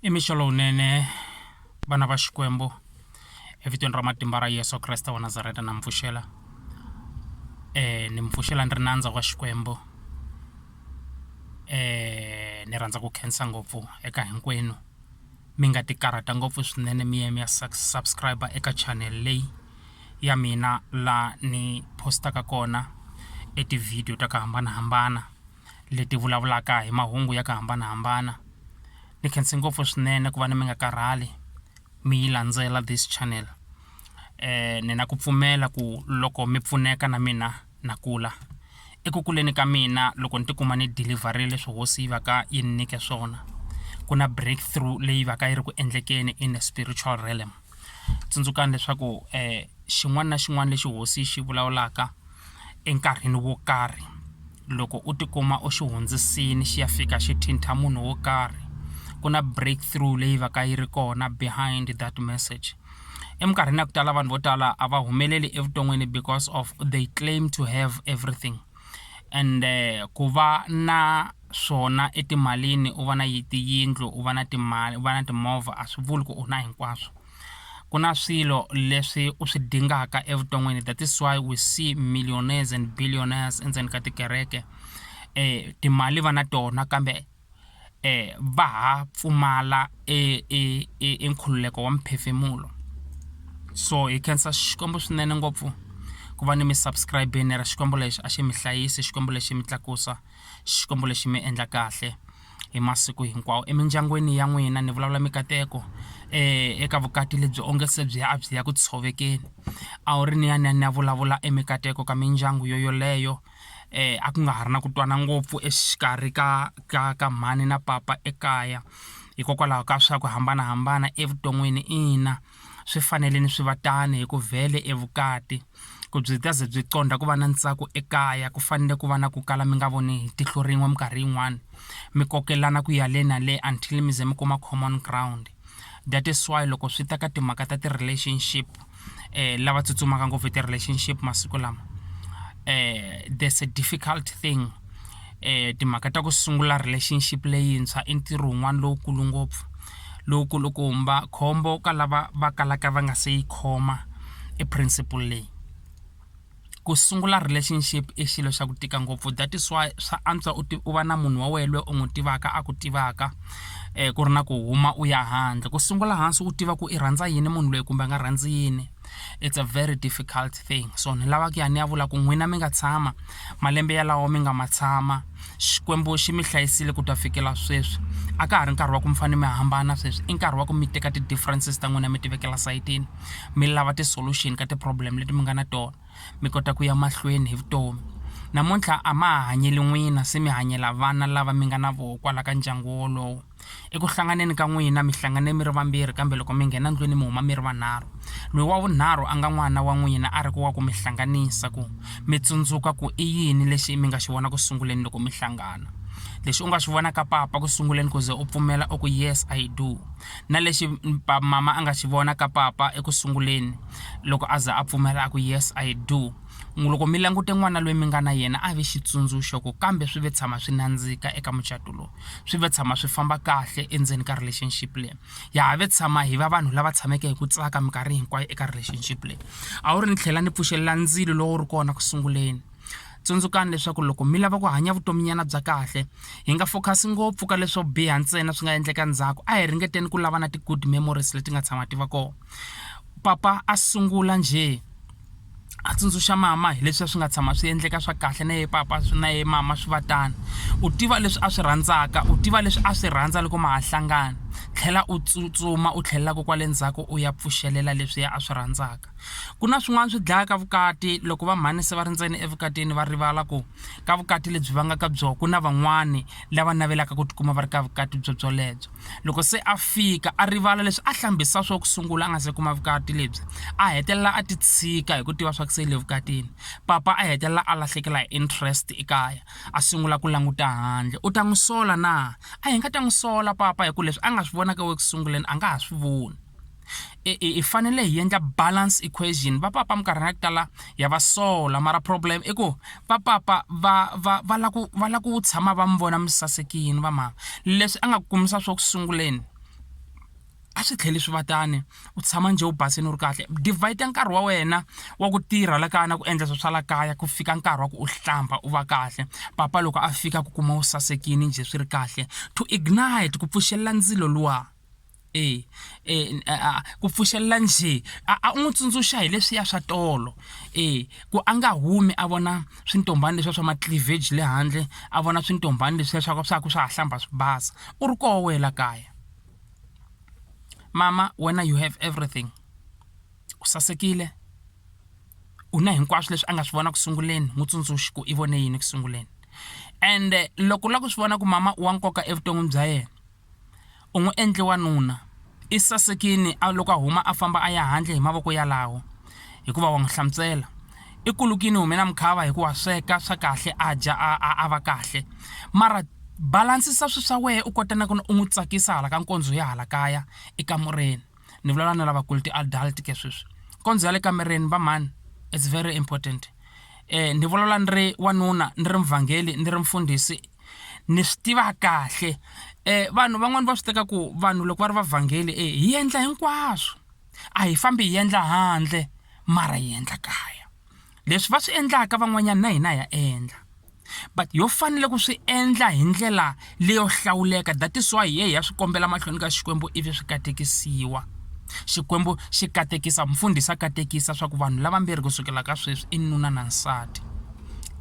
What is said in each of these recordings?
i mixo lowunene vana va xikwembu evitweni ra matimba ra yesu kreste wa nazareta na mi pfuxela um ni mi pfuxela ni ri nandza wa xikwembu um ni rhandza ku khensa ngopfu eka hinkwenu mi nga ti karhata ngopfu swinene mi ya mi ya subscribe eka channel leyi ya mina laha ni post-aka kona e ti-video ta ku hambanahambana. leti vulavulaka hi mahungu ya ku hambanahambana ni khense ngopfu swinene ku va ni mi nga karhali mi yi landzela this channel ni na ku pfumela ku loko mi pfuneka na mina na kula eku kuleni ka mina loko ni tikuma ni dilivharile swi hosi yi va ka yi ni nyike swona ku na break through leyi va ka yi ri ku endlekeni in a spiritual realm. tsundzukani leswaku xin'wana na xin'wana lexi hosi yi xi vulavulaka enkarhini wo karhi loko u tikuma u xi hundzisile xi ya fika xi thintha munhu wo karhi ku na break through leyi va ka yi ri kona behind that message eminkarhini ya ku tala vanhu vo tala a va humeleli evuton'wini because of they claim to have everything. ende ku va na swona etimalini u va na yi tiyindlu u va na timali u va na timovha a swi vuli ku u na hinkwaswo ku na swilo leswi u swi dingaka evuton'wini that is why we see millionaires and billionaires endzeni ka tikereke timali va na tona kambe va ha pfumala e e e e nkhululeko wa mphefemulo so hi khensa xikwembu swinene ngopfu ku va ni mi subscribe-ini ra xikwembu lexi a xi mi hlayisi xikwembu lexi mi tlakusa xikwembu lexi mi endla kahle hi masiku hinkwawo emindyangwini ya n'wina ni vulavula mikateko um eka vukati lebyi onge se byi ya a byi ya ku tshovekeni a wu ri ni ya ni ya ni ya vulavula emikateko ka mindyangu yo yoleyo Eh, a ku nga ha ri na ku twana ngopfu exikarhi ka ka ka mhani na papa ekaya hikokwalaho ka swa ku hambanahambana evuton'wini ina swi fanele ni swi va tani hi ku vhele evukati ku byi ta ze byi qondha ku va na ntsako ekaya ku fanele ku va na ku kala mi nga voni hi tihlo rin'we minkarhi yin'wani mi kokelana ku ya le na le until mi ze mi kuma common ground that is why loko swi ta ka timhaka ta ti-relationship. lava tsutsumaka ngopfu hi ti-relationship masiku lama there's a difficult thing timhaka ta ku sungula relationship leyintshwa i ntirho wun'wana lowukulu ngopfu lowu kulukumba khombo ka lava va kalaka va nga se yi khoma e principle leyi. ku sungula relationship i xilo xa ku tika ngopfu that is why swa antswa u u va na munhu wa wena loyi u n'wi tivaka a ku tivaka ku ri na ku huma u ya handle ku sungula hansi u tiva ku i rhandza yini munhu loyi kumbe a nga rhandzi yini it's a very difficult thing so ni lava ku ya ni ya vula ku n'wina mi nga tshama malembe yalawo mi nga ma tshama xikwembu xi mi hlayisile ku ta fikela sweswi a ka ha ri nkarhi wa ku mi fanele mi hambana sweswi i nkarhi wa ku mi teka ti-differences ta n'wina mi ti vekela sayitini. mi lava ti-solution ka ti-problem leti mi nga na tona mi kota ku ya mahlweni hi vutomi namuntlha a ma ha hanyeli n'wina se mi hanyela vana lava mi nga na voho kwala ka ndyangu wolowo eku hlanganeni ka n'wina mi hlangane mi ri vambirhi kambe loko mi nghena ndlwini mi huma mi ri vanharhu loyi wa vunharhu a nga n'wana wa n'wina a ri ku wa ku mi hlanganisa ku mi tsundzuka ku i yini lexi mi nga xi vona ku sunguleni loko mi hlangana lexi u nga xi vona ka papa ku sunguleni ku ze u pfumela u ku yes I do na lexi mama a nga xi vona ka papa eku sunguleni loko a za a pfumela a ku yes i do n'wi loko mi langute n'wana loyi mi nga na yena a vi xitsundzuxo ku kambe swi ve tshama swi nandzika eka mucato lowu swi ve tshama swi famba kahle endzeni ka relationship leyi ya ha ve tshama hi va vanhu lava tshameke hi ku tsaka minkarhi hinkwayo eka relationship leyi a wu ri ni tlhela ni pfuxelela ndzilo lowu ri kona ku sunguleni tsundzukani leswaku loko mi lava ku hanya vutominyana bya kahle hi nga focus ngopfu ka leswo biha ntsena swi nga endleka ndzhaku a hi ringeteni ku lava na ti-good memories leti nga tshama ti va kona papa a sungula njhe a tsundzuxa mama hi leswi a swi nga tshama swi endleka swa kahle na ye papa na ye mama swi va tani u tiva leswi a swi rhandzaka u tiva leswi a swi rhandza loko ma ha hlangana tlhela u tsutsuma u tlhelelaka kwale ndzhaku u ya pfuxelela leswiya a swi rhandzaka ku na swin'wana swi dlayaka vukati loko va mhani se va ri ntsena evukatini va rivala ku ka vukati lebyi va nga ka byona ku na van'wani lava navelaka ku tikuma va ri ka vukati byo byolebyo loko se a fika a rivala leswi a hlambisa swo ku sungula a nga se kuma vukati lebyi a hetelela a ti tshika hi ku tiva swa ku se le vukatini papa a hetelela a lahlekela hi interest ekaya a sungula ku languta handle u ta n'wi sola na a hi nga ta n'wi sola papa hi ku leswi a nga swi vonaka eku sunguleni a nga ha swi voni i fanele hi endla balance equation va papa minkarhini ya ku tala ya va sola mara problem i ku va papa va va va la ku va la ku tshama va mi vona mi sasekini va mhaka leswi a nga kumisa swo ku sunguleni a swi tlheli swi va tani u tshama njhe u basini u ri kahle divide nkarhi wa wena wa ku tirha la kaya na ku endla swilo swa la kaya ku fika nkarhi wa ku u hlamba u va kahle papa loko a fika ku kuma u sasekini njhe swi ri kahle to ignite ku pfuxelela ndzilo luwa E, e, a, a, ku pfuxelela njhe a, a u n'wi tsundzuxa hi leswiya swa tolo e ku a nga humi a vona swintombhani leswiya swa macleavage le handle a vona swintombhani leswiya swa ku swa ku swa ha hlamba swi basa u ri koho wena la kaya mama wena you have everything u sasekile u na hinkwaswo leswi a nga swi vona ku sunguleni n'wi tsundzuxi ku i vone yini ku sunguleni ende loko u lava ku swi vona ku mama i wa nkoka evuton'wini bya yena. U n'wi endle wanuna. I sasekile a loko a huma a famba a ya handle hi mavoko yalawo, hikuva wa n'wi hlantswela. I kulukile u hume na mukhava hikuva wa sweka swa kahle a dya a a a va kahle. Mara balansisa swilo swa wena u kota na ku u n'wi tsakisa hala ka nkondzo ya hala kaya ekamureni. ni vulavula na lavakulu ti-adult ke sweswi kondzo ya le kamereni va mhani it's very important um ni vulavula ni ri wanuna ni ri muvhangeli ni ri mfundhisi ni swi tiva kahle um vanhu van'wani va swi teka ku vanhu loko va ri vavhangeli e hi endla hinkwaswo a hi fambi hi endla handle mara hi endla kaya leswi va swi endlaka van'wanyana na hina ya endla but yo fanele ku swi endla hi ndlela leyo hlawuleka that is why ye ya swi kombela mahlweni ka xikwembu ivi swi katekisiwa xikwembu xi katekisa mfundhisi a katekisa swa ku vanhu lavambirhi ku sukela ka sweswi i nuna na nsati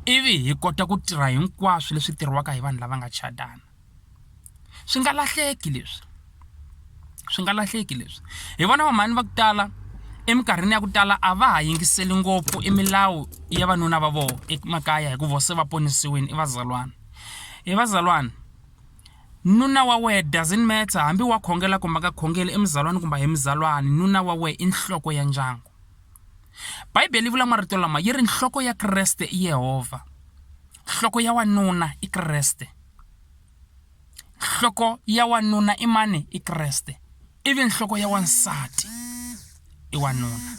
ivi hi kota ku tirha hinkwaswo leswi tirhiwaka hi vanhu lava nga chadana swi nga lahleki leswi swi nga lahleki leswi hi vona va mhani va ku tala eminkarhini ya ku tala a va ha yingiseli ngopfu i milawu ya vanuna va vona emakaya hikuva vo se va ponisiwile i vazalwana i vazalwana nuna wa wehe doesn't matter hambi wa khongela kumbe a nga khongeli i muzalwana kumbe a hi muzalwana nuna wa wehe i nhloko ya ndyangu bibele yi vula marito lama yi ri nhloko ya kreste i yehovha. Nhloko ya wanuna i Kreste. Nhloko ya wanuna i mani? I Kreste. Ivi nhloko ya wansati i wanuna.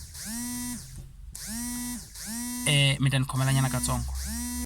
Eh mi ta ni khomelanyana katsongo.